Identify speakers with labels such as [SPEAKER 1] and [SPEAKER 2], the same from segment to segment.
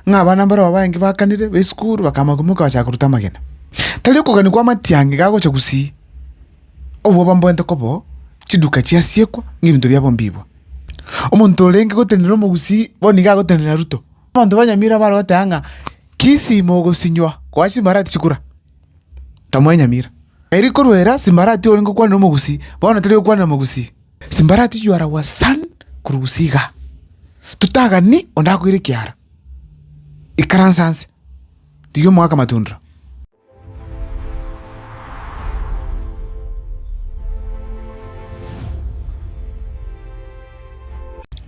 [SPEAKER 1] ng'a abana mbarabwo abaange bakanire b'esukuru bakama koimoka bagacha koruta amagena. Tari okogania kw'amatiangi iga agocha gusii, obwo bamboente koba oo, chiduka chiasiekwa, ng'a ebinto biabo mbiibwe. Omonto orenge gotenena omogusii bono iga agotenena Ruto. Abanto ba Nyamira abare goteba ng'a kisii mogosinywa koa chimbarati chikura, tamoe Nyamira. Eri korwa era simbarati orenge gokwanera omogusii, bono tari okwanera omogusii. Simbarati you are our son Kurugusia iga Totagani onde akoire ekiara Ikaransa anse Rigia omogaka matundra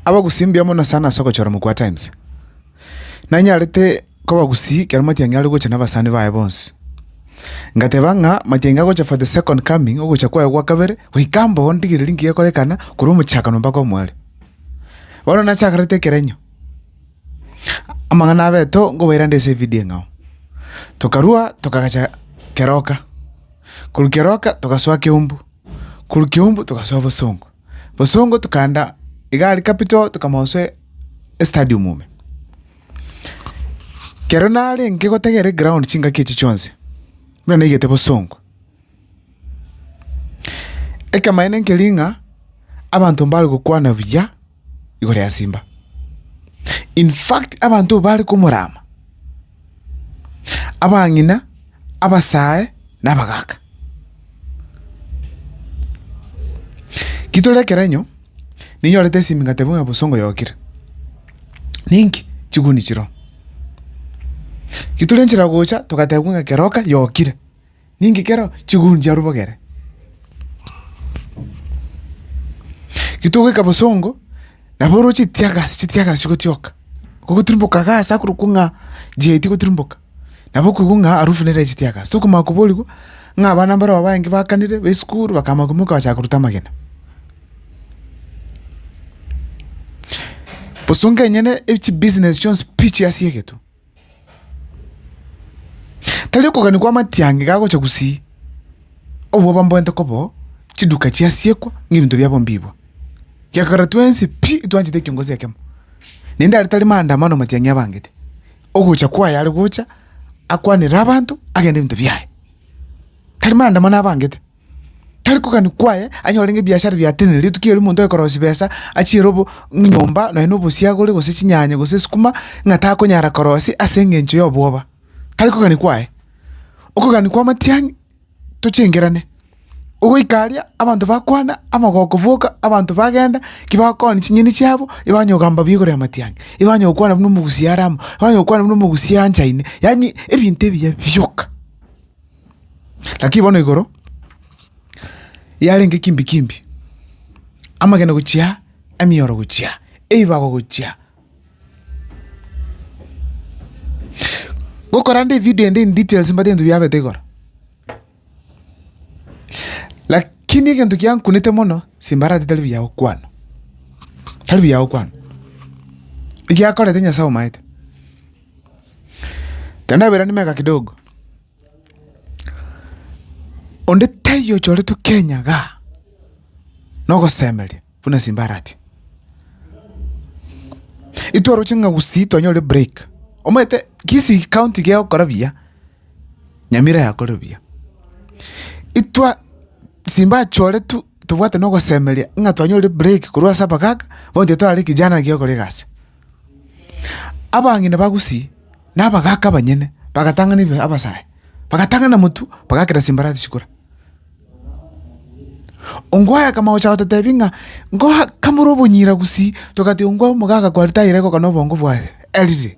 [SPEAKER 1] Abagusii mbuya mono sana ase ogochora mokuu atimes. Nanyarete kobagusii ekero matiangi are gocha nabasani baye bonsi. Ngateba ng'a matiangi agocha for the second coming, ogocha kwaye gwa kabere, goika mboo ndigererie nki gekorekana korwa omochakano mpaka omwero. Bono nachakarete ekerenyo, amang'ana abeto nkobaira nde ase evidio eng'ao. Tokarua tokaagacha keroka, korwa keroka togasoa keumbu, korwa keumbu togasoa bosongo. Bosongo tokaanda egari capital tokamosoa estadium ime. Ekero narenge gotegerera eground chingaki echi chionsi, buna naigete bosongo. Ekemaene nkeria ng'a abanto mbare gokwana buya igoro ya simba. Infact abanto bare komorama. abang'ina, abasae, na abagaaka. Kitore ekerenyo, ninyorete esimingate buna bosongo yokire. Ninki? Chiguni chiroo. Kitore nchera gocha togatebwa ng'a keroka yokire. Ninki kero chiguncha rubogere? Getogoika bosongo, nabo oro chitiagasi chitiagasi chigotioka, gogoturuboka gasi akorokwa ng'a jiaeti goturuboka, nabo okoigwa ng'a arufu nere ya chitiagasi. Tokomanya koborigwa ng'a abana mbaro abaange bakanire ba esukuru bakamanya koimoka bachaka koruta amagena. Bosongo enyene echibusiness chionsi pi chiasie egetwe. Tari okogania kw'amatiangi gagocha gusii, obwo bamborente koba oo, chiduka chiasiekwa, na ebinto biabo mbibwa. Gekogera twensi pi twanchete ekiongozi ekemo, naende aria tari maandamano matiang'i abangete, ogocha kwaye are gocha akwanere abanto, agende ebinto biaye, tari maandamano abangete. Tari kogania kwaye anyore ng'a ebiashara biatenenere, rituko erio omonto oye korosia besa achie ere obo nyomba nonye na obosiagore gose chinyanya gose esukuma ng'a takonyara korosia ase eng'encho ya obwoba, tari kogania kwaye. Okogania kwa amatiang'i tochengerane, ogoika aria abanto bakwana, amagoko boka, abanto bagenda ki bakooni chinyeni chiabo igo banya kogamba buya igoro ya amatiang'i, igo banya gokwana buna omogusia are amo, banya gokwana buna omogusia anchaine, yaani ebinto ebiya bioka. Lakini bono igoro yarenge kimbe kimbe, amagena gochia, emioro gochia, ebibago gochia. Gokorande evidio ende in details mbwate ebinto biabete igoro. Lakini egento giankunete mono, simbarati tari buya gokwana, tari buya gokwana, egiakorete Nyasaye omaete. Tendaberani meka kidogo, onde taiyo ochoretwe Kenya igaa na ogosemeria buna simba arati. Intwe oroche ng'a Gusii twanyore break, omanyete Kisii county kegokora buya, Nyamira yakorire buya. Itwe simba achoretwe tobwate na ogosemeria ng'a twanyore break korwa ase abagaaka bono titwarari kijana naki ogokora egasi. Abang'ina ba Gusii na abagaaka abanyene bagatang'ana ebibe abasae, bagatang'ana motwe, bagakera chimbarasi chikura. Ongwaye akama gocha gototebi ng'a ngoa kamore obonyira Gusii, togati ongwae omogaka kwari tairegoka na obongo bwaye, eriri.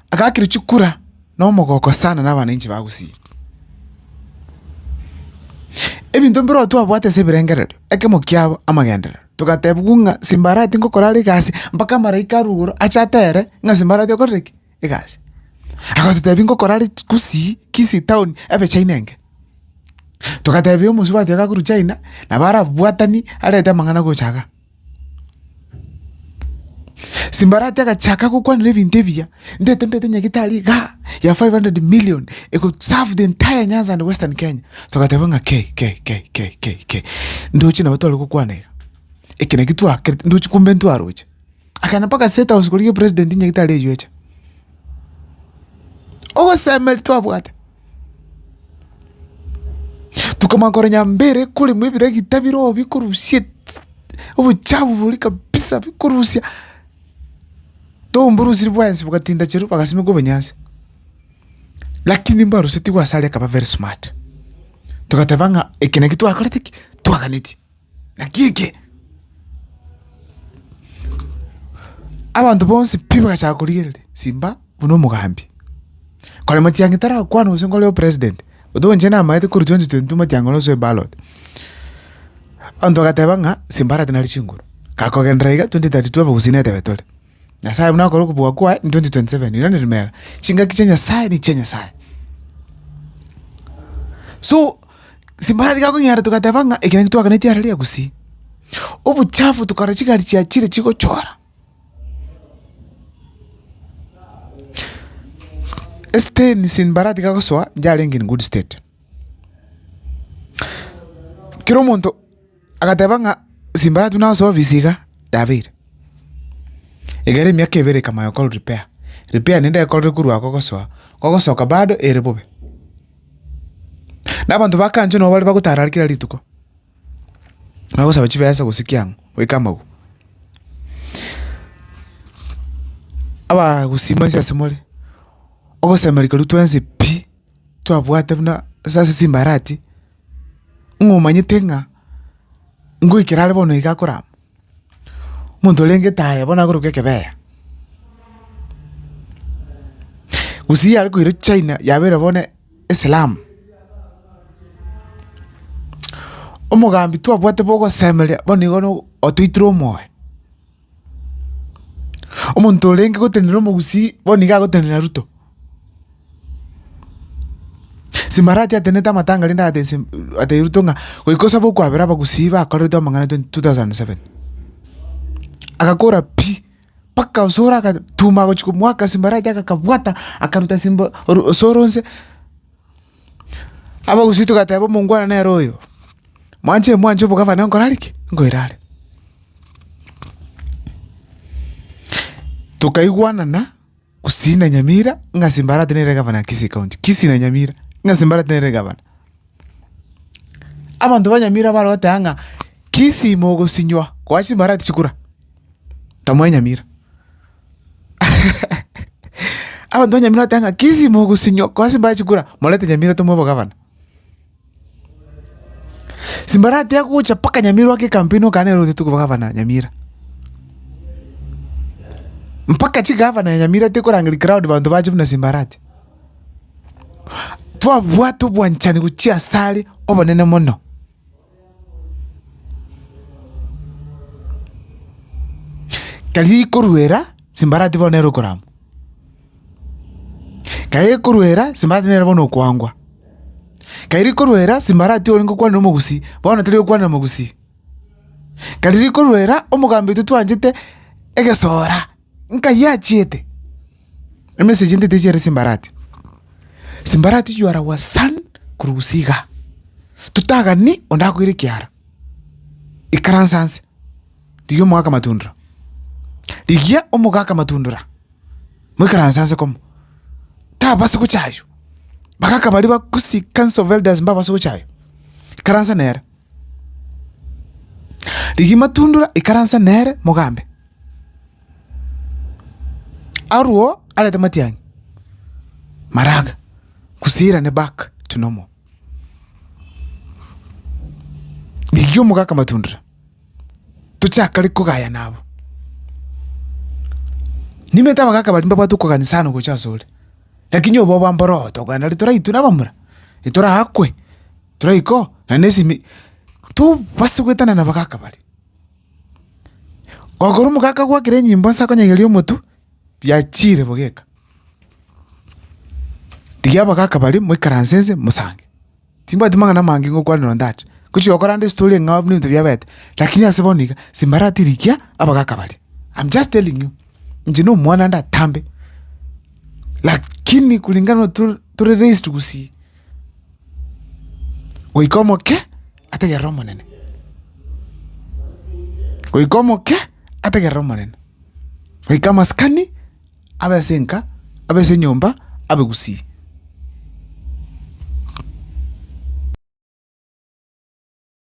[SPEAKER 1] agakirwa chikura na omogoko sana na abananchi ba Gusii. Ebinto mbiro twabwate ase ebirengererio, ekemo kiabo amagenderero, togatebigwa ng'a simbarati ngokora are egasi mpaka amaraika arwe igoro ache atere ng'a simbarati okorire ki? Egasi. Agototebi ngokora are Gusii, Kisii town ebe China enge. Togatebia omosubati oyo gakorwa China nabo arabwatani arete amang'ana gocha iga. Simbarati agachaaka gokwanera ebinto ebiya, Ndete ndete nyagitari igaa ya 500 million e could serve the entire Nyanza and Western Kenya. Togateba ng'a kei kei kei kei kei kei. Ndoche nabo tware gokwana iga. Eke naki twakerete ndoche kumbe ntwaroche. Akagenda mpaka State House korigia president nyagitari eyio echa. Ogosemeria twabwate. Tokamanya kore nyambere ekoremwa ebiragita biroo bikorusia eti obochafu boria kabisa bikorusia, tomborosirie bwensi bogatinda chirwe bagasimeka obonyansi, lakini mbarosetiwe ase aria akaba very smart, togateba ng'a eke naki twakorete ki? Twaganetie. Naki eke, abanto bonsi pi bagachaka korigereria simba buna omogambi, kore matiang'i tarakwana gose nkore opresident, ote oinche namaete korwa twenty twenty two matiang'i ore osoe ballot, abanto bagateba ng'a simba arate nare chinguru, gakogenderera iga twenty thirty two abagusii netebe tore. Nyasaye buna akore okobua kwaye in 2027 ere rimero. Chingaki chia Nyasaye nichia Nyasaye. So simbarari gakong'eara togateba ng'a ekero ntwaganeti ara ria gusii. Obochafu tokara chigari chia chire chigochora. Esiteni simbarati gagosoa yarenge in good state. Kera omonto. Agateba ng'a simbaratu na osobi bisiga yabeire. Egere emiaka ebere ekamanya gokorwa repair, repair naende ekorire korwa agwo gosoa, gogosoka bado ere bobe. Na abanto ba kancho nabo baria bagotara are kera rituko, bagosaba chibesa gose ki ang'o goika amagwa. Abagusii mbaise ase more, ogosemeria koria twensi pi, twabwate buna ase simbarati. ng'omanyete ng'a ngoikera are bono iga akorama, omonto orenge etaaya bono akorokwa ekebeya. Gose yare koira china yabeire bono eslamu, omogambi twabwate bogosemeria bono igo no otoitire omoyo. Omonto orenge gotenena omogusii bono nigo agotenena Ruto? Simbarati atenete amatanga rende agate ase atebi Ruto ng'a goika osabe okwabera abagusii bakorerete amang'ana twenty two thousand and seven. Agakora pi, mpaka osoro agatuma agochia komwaka Simbarati agakabwata akaruta simba oru osoro onse. Abagusii togateba omongwana nere oyo, Mwanche mwanche obogavana nkore are ki? Nkoire are. Tokaigwanana Gusii na Nyamira ng'a Simbarati nere egavana ya Kisii County, Kisii na Nyamira ng'a Simbarati nere egavana. Abanto ba Nyamira bare goteba ng'a Kisii mogosinywa koa Simbarati chikura, tamoe Nyamira. Abanto ba Nyamira bateba ng'a kisi mogosinyo korwa ase mbare chikura, morete Nyamira tomoe obogabana. Simbare atiga gocha mpaka Nyamira ogoke ekampeni okana nere orosete obogabana Nyamira. Mpaka chigavana ya Nyamira tekorangeria crowd abanto bache buna simbare atia. Twabwate obwanchani gochia asare obonene mono. Tari rikoruera simbarati bono nere okorama, tari rikoruera simbarati nere bono okoangwa, tari rikoruera simbarati ore ngokwanera omogusii bono tari okwanera omogusii, tari rikoruera omogambi oito twanchete egesora. nkai achiete, emesegi ende techi ere simbarati, simbarati you are our son korwa gusii igaa, totagani onde akoire ekiara, ikaransa nse, rigia omogaka matundura, rigia omogaka matundura, moikaranse nse komo, tabasa gocha aywo, bagaka baria ba gusii council of elders mbabase gocha aywo, ikaransa nere. Rigia matundura ikaranse nere, mogambe. Arwo arete matiang'i, maraga, kusirane back to normal. Rigia omogaka matundura, tochaka riria kogayana abwo. Nimanyete abagaka baria mbabwate okogania sana gocha asore, lakini oboba mboroto, okogenda riria toraitwe nabamura, riria torakwe. tore iko na nesimi tobase goetana nabagaka bare. Ogokora omogaka agwakere enyimbo ase akonyegeria omotwe, biachire bogeka. Tigia abagaka bare moikaranse nse mosange, timbwati mang'ana amange ngokwana nonye ndache, ngochia gokora ande estory eng'ao buna ebinto biabete, lakini ase bono iga simbaratirikia abagaka baria, am just telling you, inche na omwana ndatambe, lakini kulingana na tore raised gusii. Goika omoke ategerere Omonene, goika omoke ategerere Omonene, goika amasikani abe ase enka, abe ase enyomba, abe gusii.